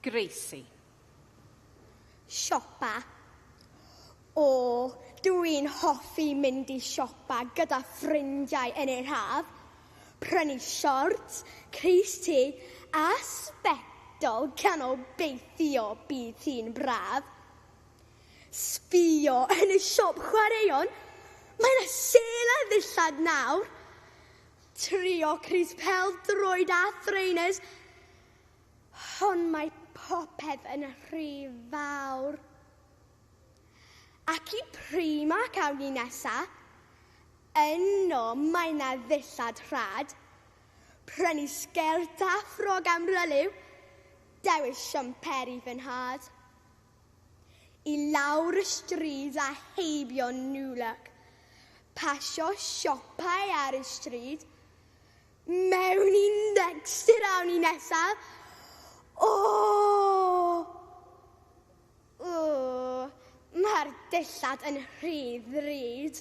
Gracie. Siopa. O, dw i'n hoffi mynd i siopa gyda ffrindiau yn yr haf, prynu siorts, crys te a sbectol gan obeithio bydd hi'n braf. Sbïo yn y siop chwaraeon, mae 'na sêl ar ddillad nawr! Trio crys pel droed a thrainers, hon mae popeth yn rhy fawr. Ac i Primark awn ni nesa, yno mae na ddillad rhad, prynu sgert a ffrog am ryliw, dewis siamperi fy nhad. i lawr y stryd a heibio New Look, pasio siopau ar y stryd, mewn i Next yr awn ni nesaf, o! O! Mae'r dillad yn rhy ddrud.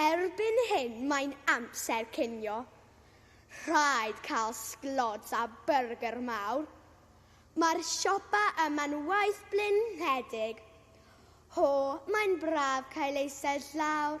Erbyn hyn mae'n amser cinio. Rhaid cael sglods a byrgyr mawr. Mae'r siopa yma'n waith blinedig. Ho, mae'n braf cael eistedd llawr.